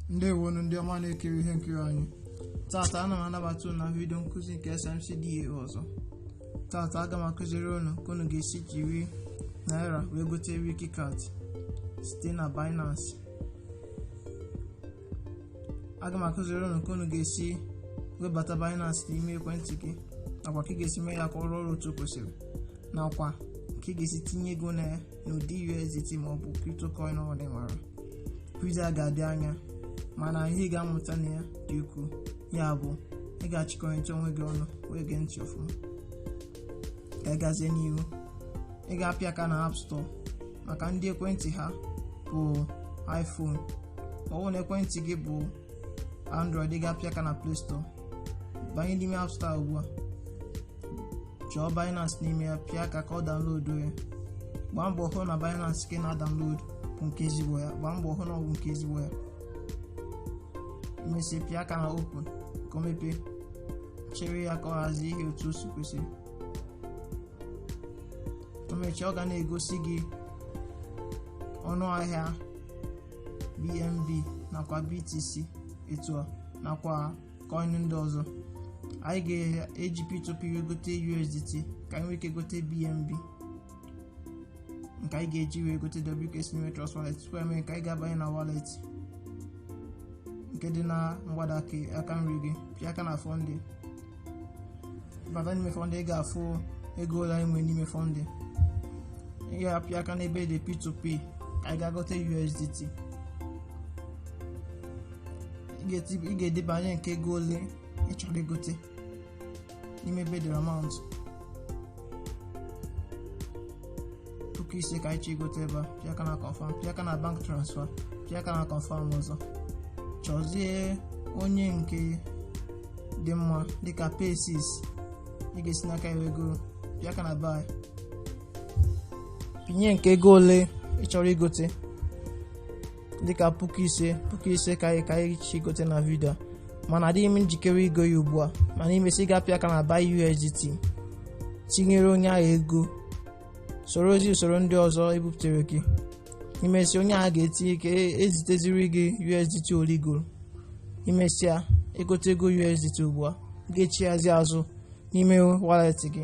ndewonu ndị ọma na-ekiri ihe nkiri anyị tata ana m anabata unu na vidio nkụzi nke SMCDA ọzọ tata aga m akụziri unu ka unu ga-esi jiri naira wee gote Wikicat site na Binance aga m akụziri unu ka unu ga-esi webata Binance n'ime ekwentị gị nakwa ka ị ga-esi mee ya ka ọ rụọ ọrụ otu o kwesịrị nakwa ka ị ga-esi tinye ego na ya n'ụdị USDT ma ọ bụ cryptocurrency ọ bụla ị nwere vidio a ga-adị anya mana ihe ị ga-amụta na ya dị ukwuu ya bụ ị ga-achịkọrịta onwe gị ọnụ wee gee ntị ọfụma ka ị gazie n'ihu ị ga-apịa aka na app store maka ndị ekwentị ha bụ iphone ma ọ bụ na ekwentị gị bụ android ị ga-apịa aka na play store banye n'ime app store ugbu a chọọ binance n'ime ya pịa aka ka ọ download ya gbaa mbọ hụ na binance nke ị na-adownload bụ nke ezigbo ya gbaa mbọ hụ na ọ bụ nke ezigbo ya i mesịa pịa aka na open ka o mepee chere ya ka ọ hazie ihe otu o si kwesịrị o mechaa ọ ga na-egosi gị ọnụ ahịa BNB nakwa BTC etu a nakwa coin ndị ọzọ anyị ga-eji P2P wee gote USDT ka anyị nwee ike gote BNB nke anyị ga-eji wee gote WKC n'ime Trust Wallet tupu e mee nke a anyị ga-abanye na wallet nke dị na mgbada aka nri gị pịa aka na funding bata n'ime funding ị ga-afụ ego ole anyị nwere n'ime funding ị ga-apịa aka n'ebe dị p2p ka anyị ga-agote usdt ị ga-edebanye nke ego ole ị chọrọ igote n'ime ebe dị amount puku ise ka anyị chọ igote ebe a pịa aka na confirm pịa aka na bank transfer pịa aka na confirm ọzọ chọzie onye nke dị mma dịka person ị ga-esi n'aka ya ego pịa aka na buy pịnye nke ego ole ị chọrọ igote dịka puku ise puku ise ka anyị chọ igote na vidio a mana adịghị m njikere igo ya ugbu a mana i mesịa ị ga-apịa aka na buy USDT tinyere onye ahụ ego sorozie usoro ndị ọzọ e bupụtere gị i mesịa onye ahụ ga-etinye eziteziri gị USDT ole i goro i mesịa i gotego USDT ugbu a ị ga-echighazi azụ n'ime wallet gị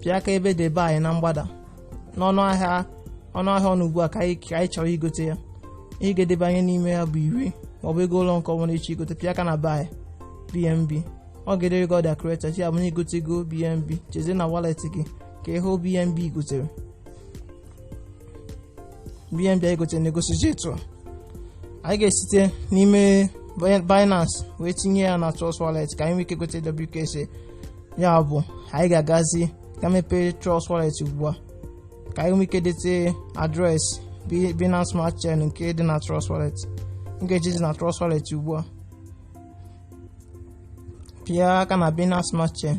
pịa aka ebe dị buy na mgbada n'ọnụ ahịa ọ nọ ugbu a ka anyị chọrọ igote ya ihe ị ga-edebanye n'ime ya bụ iri maọbụ ego ole nke ọbụla ị chọ igote pịa aka na buy bnb ọ ga-edere gị order created ya bụ na i gotego bnb jezie na wallet gị ka ị hụ bnb i gotere BNB anyị gote na-egosizi etu anyị ga-esite n'ime Binance wee tinye ya na Trust Wallet ka anyị nwee ike gote WKC ya bụ anyị ga-agazi ka mepee Trust Wallet ugbu a ka anyị nwee ike dete adreesị Binance Smart Chain nke dị na Trust Wallet m ga-ejizi na Trust Wallet ugbu a pịa aka na Binance Smart Chain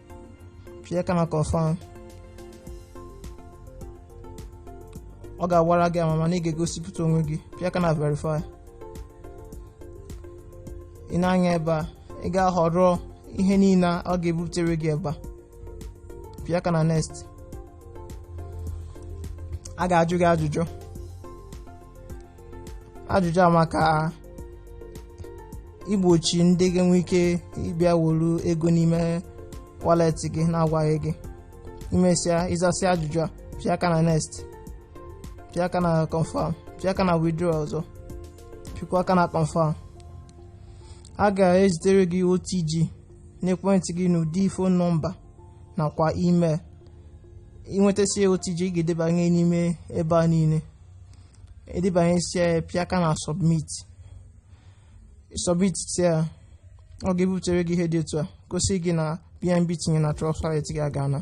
pịa aka na confirm ọ ga-agbara gị ama mana ị ga-egosipụta onwe gị pịa aka na verify ị nee anya ebe a ị ga-ahọrọ ihe niile ọ ga-ebutere gị ebe a pịa aka na next a ga-ajụ gị ajụjụ ajụjụ a maka igbochi ndị ga-enwe ike ịbịa wolu ego n'ime wallet gị na-agwaghị gị ị mesịa ịzasị ajụjụ a pịa aka na next pịa aka na confirm pịa aka na withdraw ọzọ pịakwa aka na confirm a ga-ezitere gị OTG n'ekwentị gị n'ụdị phone nọmba nakwa email ị nwetasịa OTG ị ga-edebanye n'ime ebe a niile i debanyesịa ya pịa aka na submit submit ya ọ ga-ebutere gị ihe dị otu a gosi gị na bnb tinye na trust wallet gị agaana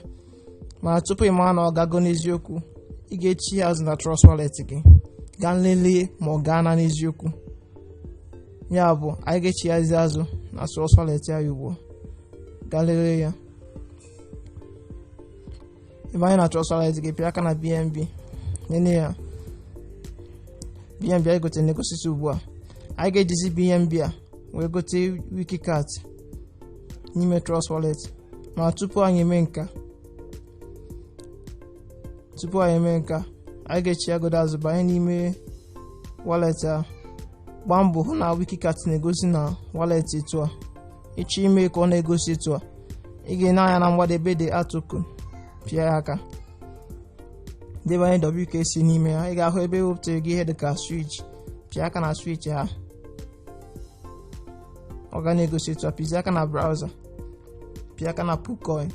mana tupu ị mara na ọ gago n'eziokwu ị ga-echigha azụ na trust wallet gị gaa lelee ma ọ gaana n'eziokwu ya bụ anyị ga-echighazi azụ na trust wallet ya ugbu a gaa lelee ya ebe anyị nọ na trust wallet gị pịa aka na bnb nene ya bnb anyị gotere na-egosizi ugbu a anyị ga-ejizi bnb a wee gote wiki cat n'ime trust wallet ma tupu anyị eme nke a anyị ga-echighagodu azụ banye n'ime wallet a gbaa mbọ hụ na wiki cat na-egosi na wallet etu a ị chọọ ime ka ọ na-egosi etu a ị ga-ene anya na mgbada ebe e dere add token pịa ya aka debanye WKC n'ime ya ị ga-ahụ ebe e wepụtara gị ihe dịka switch pịa aka na switch a ọ ga na-egosi etu a pịzie aka na browser pịa aka na poocoin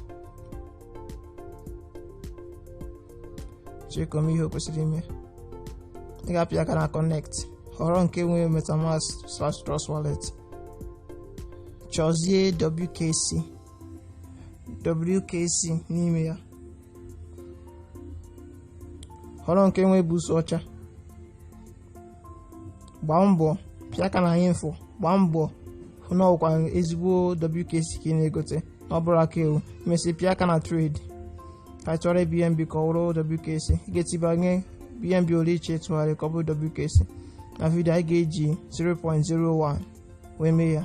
chee ka o mee ihe o kwesịrị ime ị ga-apịa aka na connect họrọ nke nwere metamask slash trust wallet chọzie WKC WKC n'ime ya họrọ nke nwe busu ọcha gbaa mbọ pịa aka na info gbaa mbọ hụ na ọ wụkwa ezigbo WKC ka ị na-egote na ọ bụrọ aka ewu mesịa pịa aka na trade ka tụgharịa BNB ka ọ wụrụ WKC ị ga-etibanye BNB ole ị chọ ịtụgharị ka ọ bụrụ WKC na vidio a anyị ga-eji 0.01 wee mee ya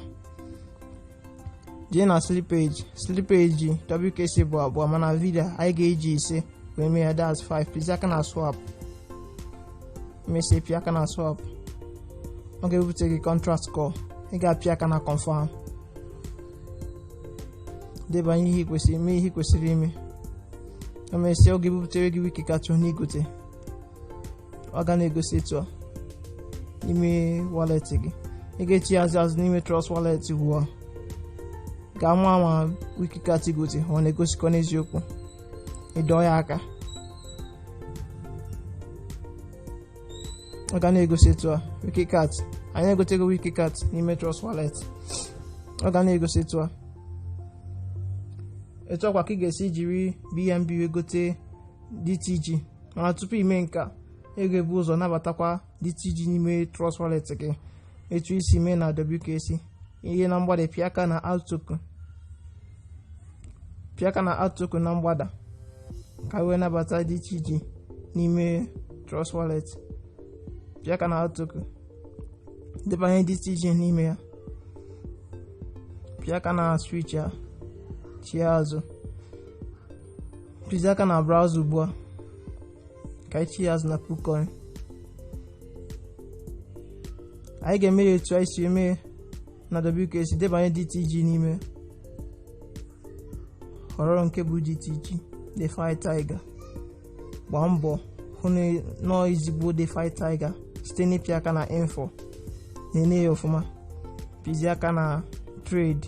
jee na slippage slippage WKC bụ abụọ mana vidio a anyị ga-eji ise wee mee ya that's 5 pịzie aka na swap mesịa pịa aka na swap ọ ga-ebupụtara gị contract call ị ga-apịa aka na confirm debanye ihe kwesịrị ime ihe kwesịrị ime emesịa ọ ga-ebupụtara gị Wiki Cat na ị gote ọ ga na-egosi etu a n'ime wallet gị ị ga-echi azụ azụ n'ime trust wallet ugbu a ka a mara ma Wiki Cat ị gote ọ na-egosikwa n'eziokwu ị dọọ ya aka ọ ga na-egosi etu a Wiki Cat anyị egotego Wiki Cat n'ime trust wallet ọ ga na-egosi etu a etu a kwa ka ị ga-esi jiri BNB wee gote DTG mana tupu i mee nke a ị ga-ebu ụzọ nabatakwa DTG n'ime Trust Wallet gị etu i si mee na WKC jee na mgbada pịa aka na add token na mgbada ka e wee nabata DTG n'ime Trust Wallet pịa aka na add token debanye DTG n'ime ya pịa aka na switch ya chie azụ pịzie aka na browser ugbu a ka anyị chie azụ na PooCoin anyị ga-eme ya etu anyị si eme na WKC debanye DTG n'ime họrọ nke bụ DTG DeFi Tiger gbaa mbọ hụ na ọ wụ ezigbo DeFi Tiger site n'ịpịa aka na info na-ene ya ọfụma pịzie aka na trade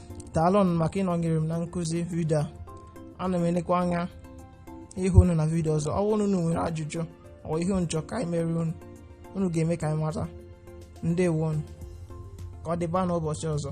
daalụnụ maka ịnọnyere m na nkụzi vidio a ana m elekwa anya ịhụ unu na vidio ọzọ ọ bụrụ na unu nwere ajụjụ or ihe unu chọ ka anyị mere unu unu ga-eme ka anyị mata ndewo unu ka ọ dịba n'ụbọchị ọzọ